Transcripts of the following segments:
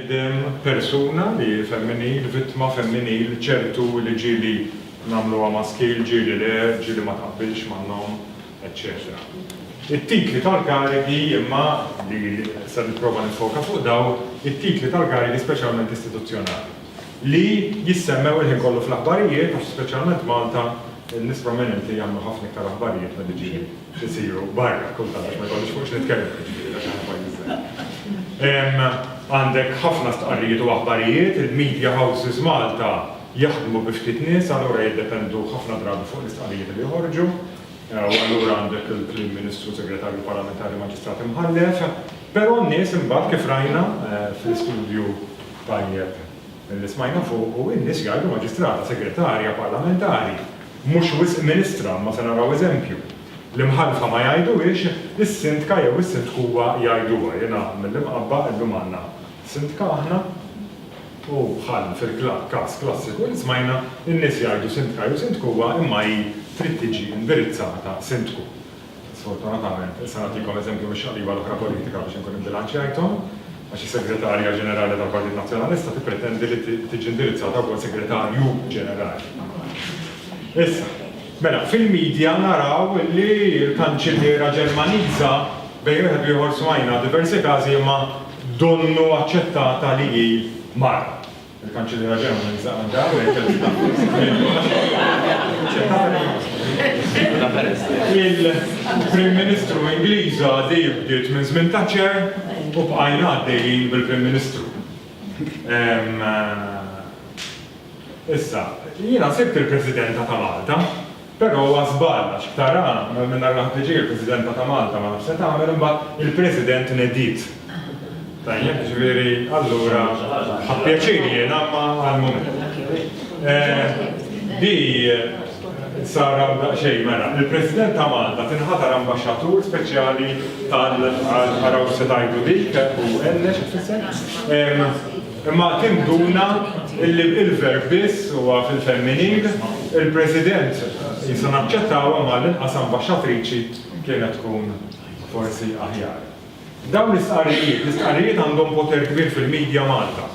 Bniedem, persuna li hi femminil, vittma femminil, ċertu li ġieli nagħmluha maskil, ġieli le, ġieli ma taqbilx man-nom, eċċetera It-titli tal-karigi, imma li se nipprova niffoka fuq dawn, it-titli tal-karigi speċjalment istituzzjonali, li jissemmew il-ħin kollu fl-aħbarijiet, għax speċjalment Malta, nies prominenti jagħmlu ħafna iktar aħbarijiet milli ġieli jsiru barra, kultant għax ma jkollix fuq x'nitkellem, jiġifieri għax aħna pajjiż żgħir. Għandek ħafna stqarrijiet u aħbarijiet, il-media houses Malta jaħdmu bi ftit nies, allura jiddependu ħafna drabi fuq l-istqarrijiet li joħorġu. U allura għandek il-Prim Ministru, Segretarju Parlamentari, Maġistrat Imħallef, però n-nies imbagħad kif rajna fl-istudju tajjeb li smajna fuqu, in-nies jgħidu Maġistrata, Segretarja Parlamentari, mhux wisq Ministra, imma se naraw eżempju. L-Imħallfa ma jgħiduhiex, is-Sindka jew is-Sindkuwa jgħiduha. Jiena mill-Imqabba, illum għandna Sindka aħna. U bħal fil-klabb każ klassiku li smajna, in-nies jgħidu sindka jew sindkuwa imma hi trid tiġi indirizzata sindku. Sfortunatament, issa nagħtikom eżempju mix-xaqliba l-oħra politika biex inkun ibbilanċjajthom, għax is-Segretarja Ġenerali tal-Partit Nazzjonalista tippretendi li tiġi indirizzata wkoll Segretarju Ġenerali. Issa, mela, fil-media naraw li l-Kanċilliera Ġermaniża, bejn wieħed u ieħor smajna diversi każi imma donnu aċċettata li hi mara. Il-Kanċilliera Ġermaniża Angela Merkel xi taħt żmien aċċettata li Il-Prim Ministru Ingliża għadi bdiet minn żmien Thatcher u bqajna għaddejjin bil-Prim Ministru. Issa, jiena sibt il-Presidenta ta' Malta. Però huwa żball għax ktarha minn nar l-ħadd-li-ġej il-Presidenta ta' Malta ma nafx se tagħmel imbagħad il-President nediet. Tajjeb, jiġifieri allura ħa pjaċir jiena imma għall-mument. Di sar hawn daqsxejn mela. Il-President ta' Malta tinħatar Ambaxxatur Speċjali tal-Araw x'se tgħidu dik u Enne xi tfisser? Imma tinduna illi il-verb biss huwa fil-femminil, il-President qisu naċċettawha imma għall-inqas ambaxxatriċi kienet tkun forsi aħjar. Dawn l-istqarrijiet, l-istqarrijiet għandhom poter kbir fil-media Malta.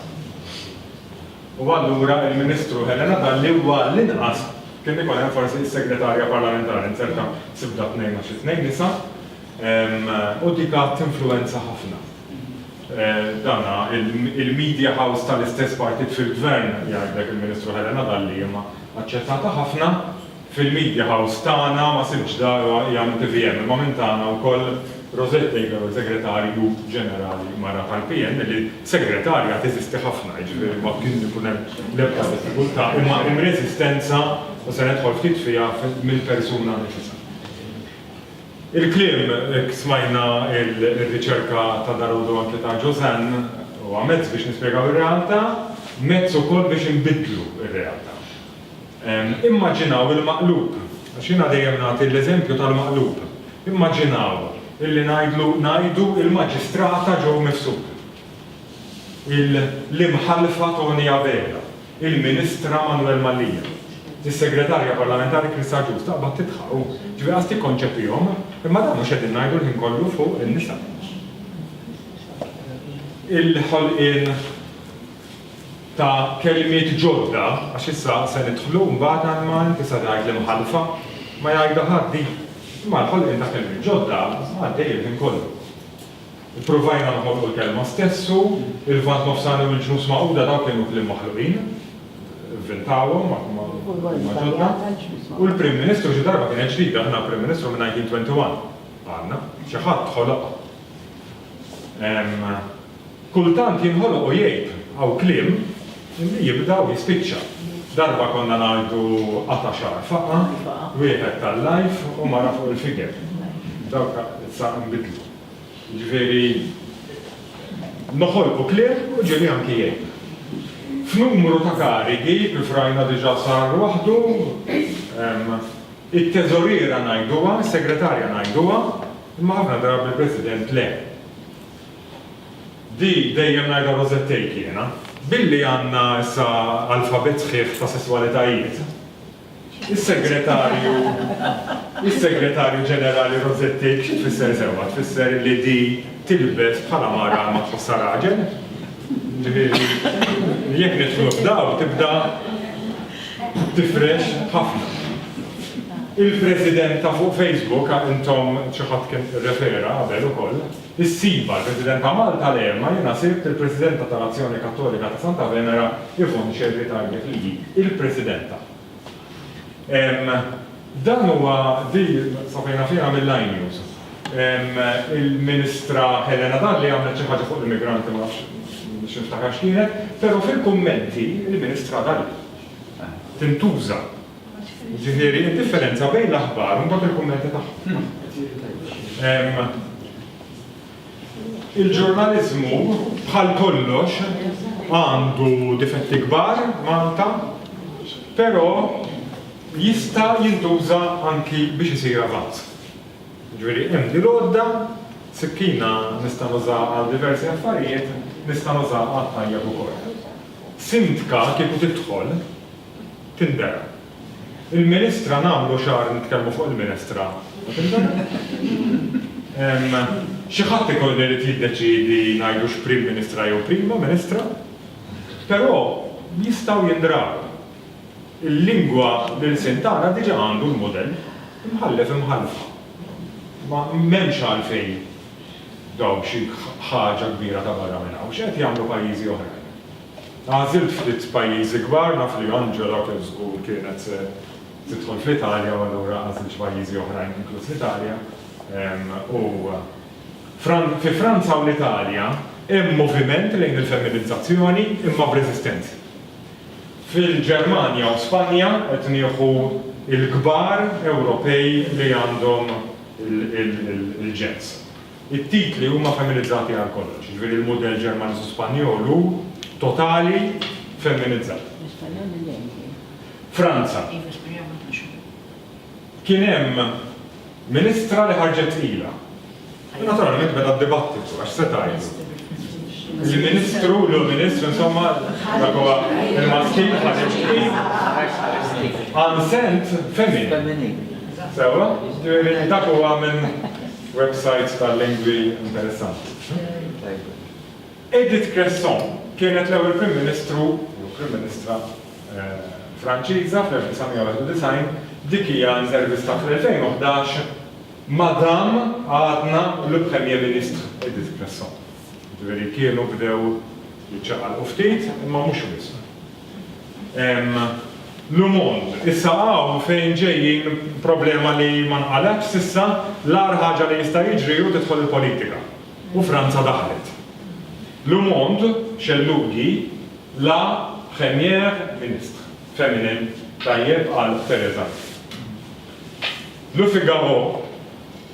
U allura il-Ministru Helena Dalli u għall-inqas kien ikun hemm forsi is-Segretarja Parlamentari inzerta sibda tnejn għax it-tnejn nisa u dik għad tinfluwenza ħafna. Dan il-media house tal-istess partit fil-Gvern, jgħidlek il-Ministru Helena Dalli, imma aċċettata ħafna. Fil-media house tagħna ma sibtx darha hija minn tvm, imma minn tagħna wkoll Rosette Taylor, Segretarju Ġenerali mara tal-PN, li segretarja teżisti ħafna, jiġifieri ma kien ikun hemm l-ebda diffikultà, imma hemm reżistenza, u se nidħol ftit fiha, mill-persuna nnifisha. Il-kliem, hekk smajna r-riċerka ta' Darude u anke ta' Josanne, huwa mezz biex nispjegaw ir-realtà, mezz ukoll biex inbiddlu r-realtà. Immaġinaw il-maqlub, għax jiena dejjem nagħti l-eżempju tal-maqlub. Immaġinaw illi ngħidlu, ngħidu, il-Maġistrata Jo Mifsud, il-Imħallfa Toni Abela, il-Ministra Manuel Mallia. Is-Segretarja Parlamentari Christa Agius taqbad tidħaq u, ġifieri qas tikkonċepihom, imma dan mhux qegħdin ngħidu l-ħin kollu fuq in-nisa. Il-ħolqien ta' kelmiet ġodda, għax issa se nidħlu mbagħad għall-Malti tista' tgħid l-imħallfa, ma jgħidha ħadd din. Imma l-ħolqien ta' kelmiet ġodda għaddej il-ħin kollu. Ippruvajna nħolqu l-kelma stess u l-Lvant Nofsani u l-Ġnus Magħquda dawn kienu kliem maħluqin, vvintawhom ma huma ġodda. U l-Prim Ministru xi darba kienet ġdida, aħna l-Prim Ministru minn 1921 għandna, xi ħadd ħoloqha. Kultant jinħoloq u jgħib, hawn kliem li jibda u jispiċċa. Darba konna ngħidu qata' xagħar faqa', wieħed ta' l-life u mara fuq il-figure. Dawk issa nbidlu. Jiġifieri, noħolqu kliem u ġieli anki jgħin. F'numru ta' karigi, kif rajna diġà sar waħdu, it-teżoriera ngħiduha, is-segretarja ngħiduha, imma ħafna drabi l-President le. Di dejjem ngħidha rożettejk jiena. Billi għandna issa alfabet sħiħ ta' sesswalitajiet, Is-Segretarju, Is-Segretarju Ġenerali Rossetti, xi tfisser sewwa? Tfisser li di tilbes bħala mara ma tħossha raġel? Ġifieri, jekk nidħlu f'dawl tibda tifrex ħafna. Il-President ta' fuq Facebook, intom xi ħadd kien irrefera qabel ukoll, Is-Siva, il-President ta' Malta le, imma jiena sibt il-Presidenta tal-Azzjoni Kattolika ta' Santa Venera, Yvonne Scerri tgħidlek li hi il-Presidenta. Ehm, dan huwa, di saprina fiha mill-Line News. Ehm, il-Ministra Helena Dalli għamlet xi ħaġa fuq l-immigranti, ma nafx, nixtieq niftakar x'kienet, però fil-kummenti il-Ministra Dalli tintuża Jiġifieri d-differenza bejn l-aħbar u mbagħad il-kummenti tagħhom. Il-ġurnaliżmu bħal kollox għandu difetti kbar Malta, però jista' jintuża anki biex isir avanz. Ġifieri hemm din l-għodda, sikkina nista' nuża għal diversi affarijiet, nista' nuża għat-tajjeb ukoll. Sindka kieku tidħol Tindera. Il-Ministra nagħmlu xahar nitkellmu fuq il-Ministra u tindera. Xi ħadd ikun irid jiddeċiedi ngħidu x'Prim Ministra jew Prima Ministra. Però jistgħu jindraw. Il-lingwa, l-ilsien tagħna diġà għandu l-mudell. Imħallef, imħallfa. Ma m'hemmx għalfejn dawn xi ħaġa kbira ta' barra minn hawn. X'qed jagħmlu pajjiżi oħrajn? Għażilt ftit pajjiżi kbar, naf li Angela kif żgur kienet se tidħol fl-Italja u allura għażilt xi pajjiżi oħrajn inkluż l-Italja. U fi Franza u l-Italja hemm moviment lejn il-femminizzazzjoni imma b'reżistenza. Fil-Ġermanja u Spanja qed nieħu l-kbar Ewropej li għandhom il-ġens. It-titli huma feminizzati għal kollox, jiġifieri l-mudell Ġermaniż u Spanjol hu totali feminizzat. Franza. Kien hemm Ministra li ħarġet tqila. U naturalment beda d-dibattitu, għax x'se tgħidlu? Il-Ministru, l-Ur Ministru, insomma, dak huwa l-maskin ħareġ tqil. Għal sent femminil. Sewwa? Jiġifieri dak huwa minn Websajt tal-lingwi interessanti. Għajbek. Edith Cresson kienet l-ewwel Prim Ministru jew Prim Ministra Franċiża fl-1991, dik hija intervista fl-2011 Madame għadna le Premier Ministre Edith Cresson. Jiġifieri kienu bdew jiċċaqalqu ftit, imma mhux wisq. Hemm Lumond. Issa hawn fejn ġejjin problema li ma nqalgħetx s'issa, l-agħar ħaġa li jista' jiġri hu tidħol il-politika. U Franza daħlet. Lumond, xellughi, la première ministre féminin, tajjeb qal Theresa May. Le Figaro.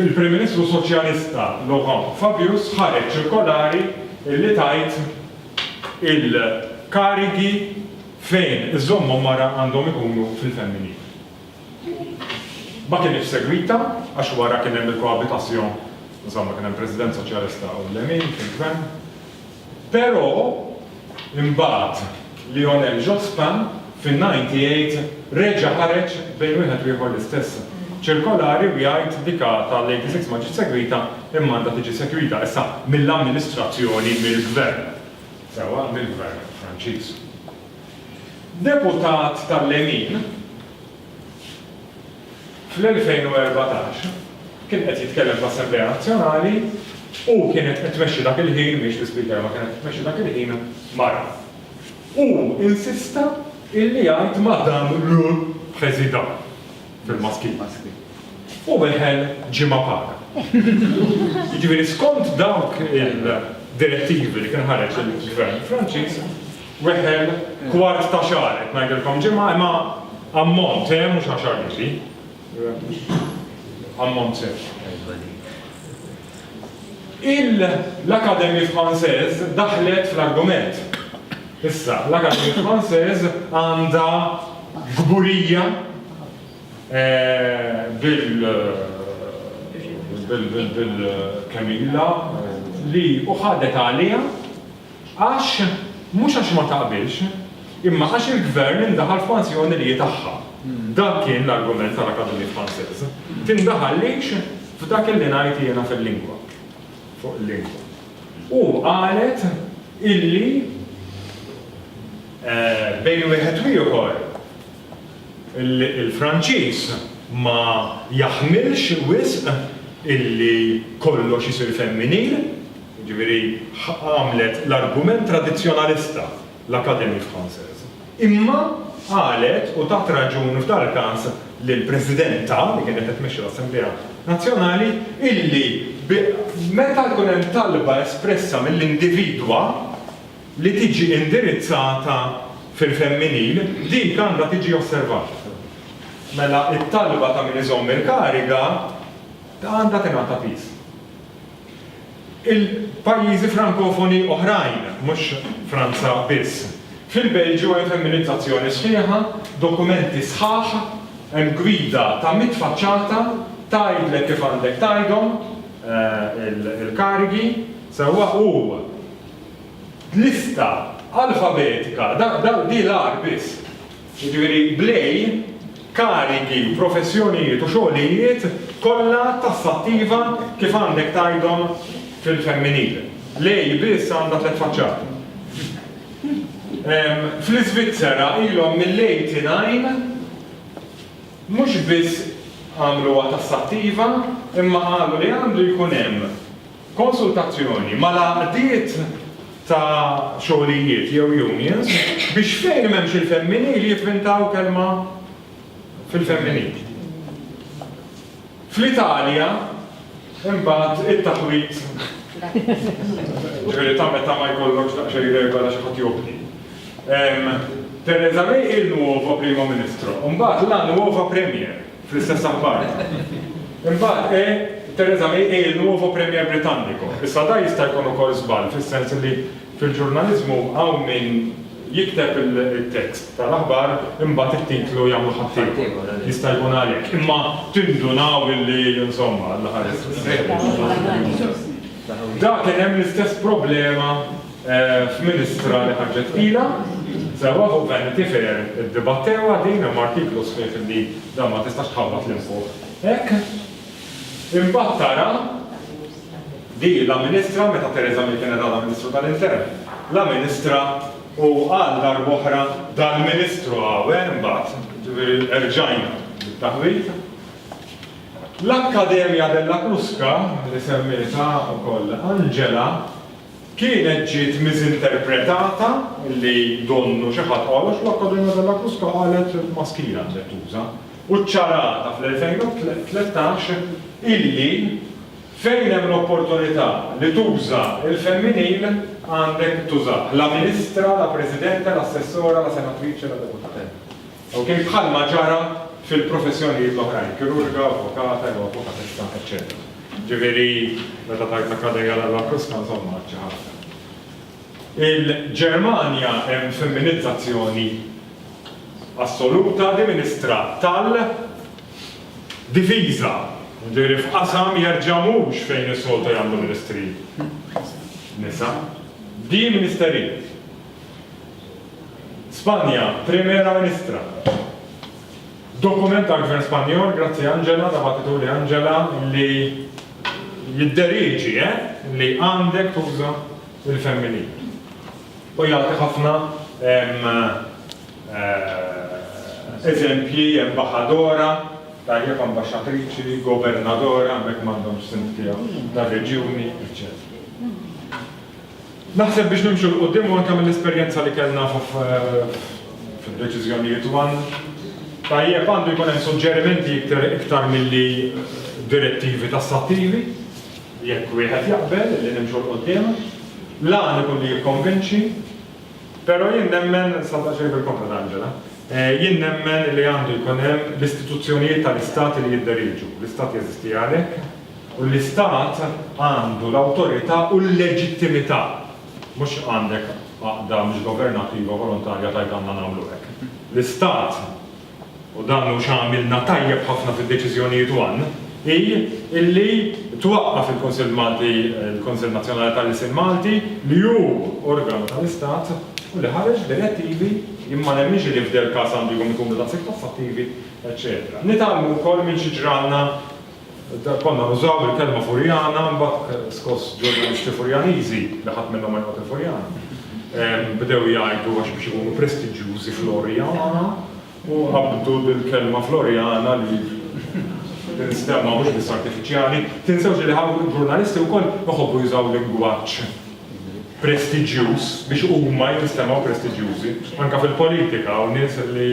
Il-Prim Ministru Soċjalista Laurent Fabius ħareġ ċirkolari li tgħid il-karigi fejn iżommhom mara għandhom ikunu fil-femminil. Ma kinitx segwita għax wara kien hemm il-cohabitation, insomma kien hemm President Soċjalista u l-Lemin fil-Gvern. Però, imbagħad, Lionel Jospin fin-98 reġa' ħareġ bejn wieħed u ieħor l-istess ċirkolari u jgħid dika tal-86 ma ġietx segwita imma għandha tiġi segwita issa mill-amministrazzjoni, mill-gvern, sewwa mill-gvern Franċiż. Deputat tal-lemin. Fl-2014 kien qed jitkellem fl-Assemblea Nazzjonali u kienet qed tmexxi dak il-ħin, mhix l-Ispeaker imma kienet qed tmexxi dak il-ħin, mara. Hu insista illi jgħid Madame le Président bil-maskil. U weħel ġimgħa paga. Jiġifieri skont dawk il-direttivi li kien ħareġ il-Gvern Franċiż, Weħel, kwart ta' xahar, qed ngħidilkom ġimgħa, imma ammont, eh, mhux għaxar liri. Ammont sew. Il-L'Académie Française daħlet fl-argument. Issa, l-Académie Française għandha gburija eh, bil bil bil bil Camilla eh, li uħadet għalija Għax, mhux għax ma taqbilx, imma għax il-Gvern indaħal f'manżjoni li hi tagħha. Dan kien l-argument tal-Académie Française. Tindaħallix f'dak illi ngħid jiena fil-lingwa, fuq il-lingwa. U qalet illi bejn wieħed u ieħor il-Franċiż ma jaħmilx wisq illi kollox isir femminil. Jiġifieri għamlet l-argument tradizzjonalista l-Academy Française, imma qalet u tat raġun f'dal-każ lill-Presidenta, li kienet qed tmexxi l-Assemblea Nazzjonali, illi meta jkun hemm talba espressa mill-individwa li tiġi indirizzata fil-femminil, dik għandha tiġi osservata. Mela t-talba ta' min iżomm il-kariga għandha tingħata piż. Il-pajjiżi Frankofoni oħrajn, mhux Franza biss. Fil-Belġju hemm femminizzazzjoni sħiħa, dokumenti sħaħ, hemm gwida ta' mitt faċċata, tgħidlek kif għandek tgħidhom il-karigi, sewwa u lista alfabetika, dak dak di l-agħar biss. jiġifieri bl-EI, karigi, professjonijiet u xogħlijiet kollha tassattiva kif għandek tgħidhom fil-femminil. L-EI biss għandha tliet faċċati. Fl-Iżvizzera ilhom mill-89 mhux biss għamluha tassattiva imma qalu li għandu jkun hemm konsultazzjoni mal-għaqdiet ta' xogħlijiet jew unions biex fejn m'hemmx il-femminil jipprintaw kelma fil-femminil. Fl-Italja imbagħad it-taħwid ġifieri ta' meta ma jkollokx daqsxejn regola xi ħadd jobdi. Theresa May il-nuova Primo Ministro, imbagħad la nuova Premier. fl-istess appart. Imbagħad qe, Theresa May hi il nuovo premier britannico. Issa da jista' jkun ukoll żball fis-sens li fil-ġurnaliżmu hawn min jikteb it-tekst tal-aħbar imbagħad it-titlu jagħmlu ħaddieħor. Jista' jkun għalhekk. Imma tindunaw illi insomma l-aħħar. Da kien hemm l-istess problema f'Ministra li ħarġet qila, sewwa fuq Vanity Fair iddibattewha din, hemm artiklu sħiħ li dan ma tistax tħabbat 'l fuq hekk. Imbagħad tara li la Ministra, meta Theresa May kienet għadha Ministru tal-Intern, la Ministra u għal darb'oħra dal-Ministru Awe mbagħad, jiġifieri erġajna bit-taħwid. L-Accademia della Crusca li semmietha wkoll Angela, Kienet ġiet miżinterpretata li donnu xi ħadd qal għax l-Accademia della Crusca qalet maskila għandek tuża, u ċċarata fl-2013 illi fejn hemm l-opportunità li tuża l-femminil għandek tużah, la ministra, la presidente, la assessora, la senatrice, la deputata. Ok, bħalma ġara fil-professjonijiet l-oħrajn, kirurga, avukata jew avukatessa, eċċetera. Ġifieri, meta tgħid l-Akkademja l-Alba Kruska, insomma, għad xi ħaġa. Il-Ġermanja hemm femminizzazzjoni assoluta li ministra tal Difiża, ġifieri f'qasam jerġa' mhux fejn is-soltu jagħmlu ministri nisa, di ministerijiet. Spanja, Primera Ministra. Dokument tal-Gvern Spanjol, grazzi Angela, ta' battituli Angela, li jidderieġi, eh, li għandek tuża l-femminil. U jagħti ħafna, ehm, eh, eżempji, embaħadora, tajjeb, ambaxxatriċi, governadora, hemmhekk m'għandhomx sindki hawn, tar-reġjuni, eċċetera. Naħseb biex nimxu 'l quddiem u anke mill-esperjenza li kellna f'deċiżjonijiet u għan tajjeb għandu jkun hemm suġġerimenti iktar iktar milli direttivi tassattivi, jekk wieħed jaqbel li nimxu 'l quddiem. L-għan ikun li jikkonvinċi, però jien nemmen, sa daqsxejn bil-kontra ta' Angela, jien nemmen li għandu jkun hemm l-istituzzjonijiet tal-Istat li jidderieġu, l-Istat jeżisti għalhekk, U l-Istat għandu l-awtorità u l-leġittimità, mhux għandek għaqda mhux governattiva volontarja tgħid għandna nagħmlu hekk. L-Istat, u dan hu x'għamilna tajjeb ħafna fid-deċiżjonijiet one, hi illi twaqqaf il-Kunsill Malti, il-Kunsill Nazzjonali tal-Ilsien Malti, li hu organu tal-Istat u li ħareġ direttivi, jien ma nemminx illi f'del-każ għandu jkun ikunu daqshekk tassattivi, eċċetera. Nitgħallmu wkoll minn xi ġralna Konna nużaw il-kelma Furjana, imbagħad skoss ġurnalisti Furjaniżi, li ħadd minnhom ma jqgħod il-Furjana, bdew jgħidu għax biex ikunu prestiġjużi Florjana u qabdu bil-kelma Florjana li tinstemma mhux biss artifiċjali. Tinsewx li hawn ġurnalisti wkoll iħobbu jużaw lingwaġġ prestiġjuż biex huma jinstemgħu prestiġjużi. Anke fil-politika hawn nies li.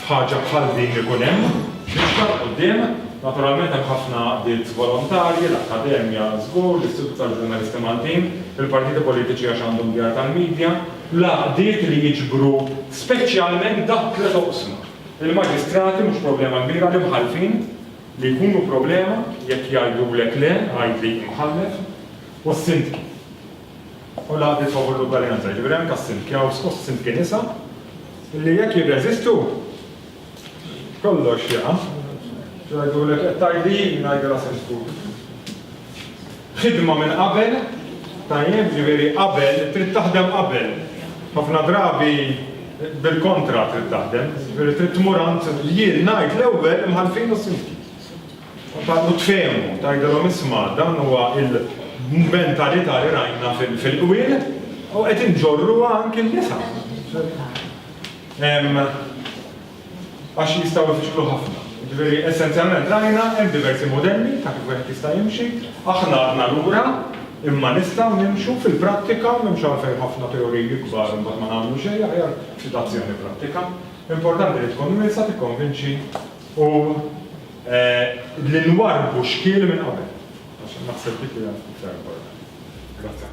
f'ħaġa bħal din li jkun hemm mixja 'l quddiem. Naturalment hemm ħafna għaqdiet volontarji, l-Akkademja żgur, l-Istitut tal-Ġurnalisti Maltin, il-partiti politiċi għax għandhom djar tal-midja, l-għaqdiet li jiġbru speċjalment dawk tliet oqsma, il-Maġistrati mhux problema kbira, l-Imħallfin li jkunu problema jekk jgħidulek le, għidli imħallef, u s-Sindki. u l-għaqdiet favur l-ugwaljanza, jiġifieri anke s-sindkjaws u s-sindki nisa, li jekk jirreżistu, kollox jaqa'. Jgħidulek qed tgħid hi, ngħidilha sindku. Ħidma minn qabel, tajjeb, jiġifieri qabel, trid taħdem qabel. Ħafna drabi bil-kontra trid taħdem, jiġifieri trid tmur għand jien ngħid l-ewwel l-imħallfin u s-sindki. F'hekk u tfehmu, tgħidilhom isma' dan huwa l-mentalità li rajna fil-qwiel u qed inġorruha anki n-nisa. Għax jistgħu jfixklu ħafna. Jiġifieri essenzjalment rajna hemm diversi mudelli ta' kif wieħed jista' jimxi, aħna għadna lura imma nistgħu nimxu fil-prattika, m'hemmx għalfejn ħafna teoriji kbar u mbagħad ma nagħmlu xejn, aħjar ftit azzjoni prattika. Importanti li tkun wiesgħa tikkonvinċi u li nwarrbu xkiel minn qabel, għax naħseb dik hija iktar importanti. Grazzi.